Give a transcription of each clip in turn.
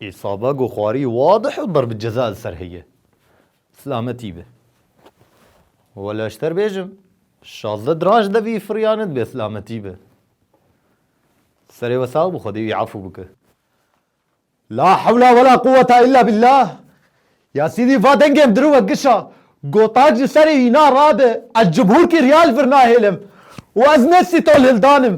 Îsaba goxwarî wadih û darb ceza li ser heye. Silametî be. Wela ji te re bêjim, şazdeh diraj de vî firiya nedibe silametî be. Serê we sax be xwedê wî efû bike. La hewla wela quweta îlla bîllah Ya sîdî va dengê em dirûve gişa, gotac li serê wî na rabe, ez cumhurkî riya li vir nahêlim û ez ne sîtol hildan im.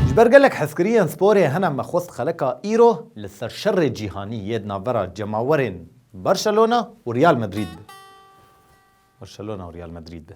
Ji ber gelek hezkiriyên sporê hene me xwest xeleka îro li ser şerê cîhanî yê di navbera cemawerên Barcelona û Real Madrid be.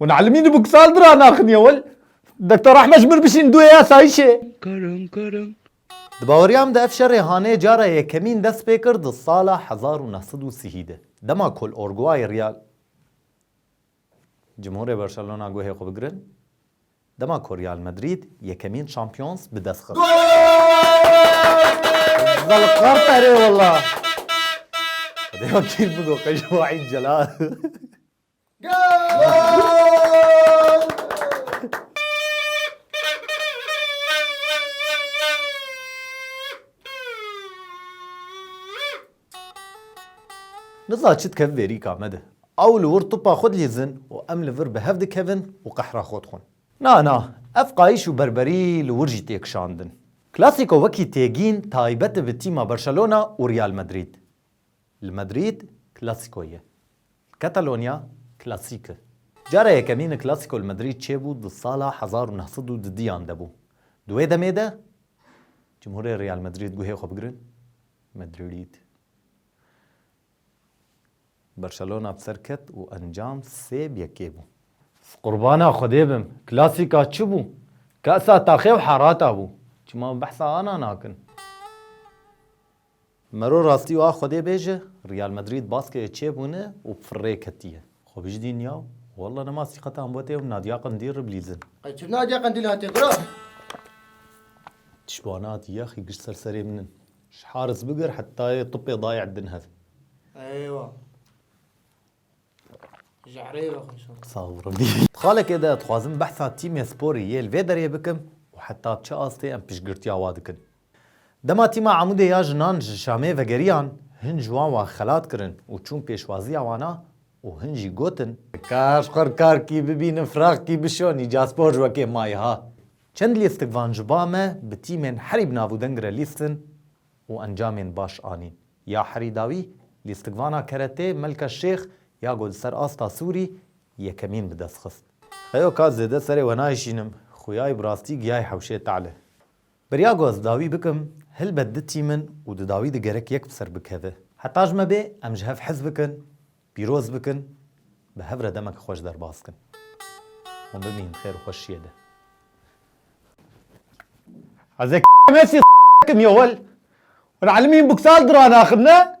Wan elmî di buksal dira naxiniye wel Dekta Rahme ji mir bişîn duê ya sayîşê. Kereng kereng. Di baweriya min de ev şerê hanê cara yekemîn dest pê kir di sala hezar û neh sed û sihî de. Dema ku li Orguayê riya Cimhurê Barcelona guhê xwe bigirin, dema ku Real Madrid yekemîn Champions bi dest xist. Niza çi dikeve vêrîka me de. Ew li wir tipa xwe dilîzin û em li vir bi hev dikevin û qehra xwe dixwin. Na na, ev qayîş û berberî li wir jî tê kişandin. Klasîko wekî têgîn taybet e bi tîma Barcelona û Real Madrid. Li Madrîd Klasîko ye. Li Katalonya Klasîk e. Cara yekemîn Klasîko li Madrîd çêbû di sala hezar û neh sed û dudiyan de bû. Di wê demê de cumhurê Real Madrîd guhê xwe bigirin Madrîd. Barcelona bi ser ket û encam sê bi yekê bû. Qurbana Xwedê bim. Klasîka çi bû? Kasa taxê û herata bû. Çima behsa ana nakin? Mero rastî û a Xwedê bê ji Real Madrid baskeke çêbûne û firrê ketiye. Xwe bijdîn ya û walla nema sîqeta Mbotê û Nadia Qendîl re bilîzin. Qey tu Nadia Qendîl hatiye gura? Tiştbane hatiye axî gişt ser serê min in. Ji Haris bigir heta yê tupê dayê Edin hev. Eywa. Xalekê de dixwazim behsa tîmê sporî yê li vê derê bikim û heta bi çi astê em piştgirtiya wa dikin. Dema tîma Amûdê ya jinan ji Şamê vegeriyan, hin ji wan wa xelat kirin û çûn pêşwaziya wana û hin jî gotin, Kaş xwe rikar kî bibînin firax kî bişon îca spor ji wekê mayî ha. Çend lîstik van ji ba me bi tîmên herî bi nav û deng re lîstin û encamên baş anîn. Ya herî dawî, lîstikvana keretê Melka Şêx ya ku li ser asta sûrî yekemîn bi dest xist. Heyo ka zêde serê we nayişînim, xuyayê bi rastî giyayê hewşê Te'lê. Beriya ku ez dawî bikim, helbet ditîmin û di dawî de gerek yek bi ser bikeve. Heta ji me bê, em ji hev hez bikin, Pîroz bikin, bi hev re demek xweş derbas kin. Hûn bimînin xêr û xweşiyê de. Ez ê Mesî bikim yo wel hûn elmîn buksal diranaxin ne?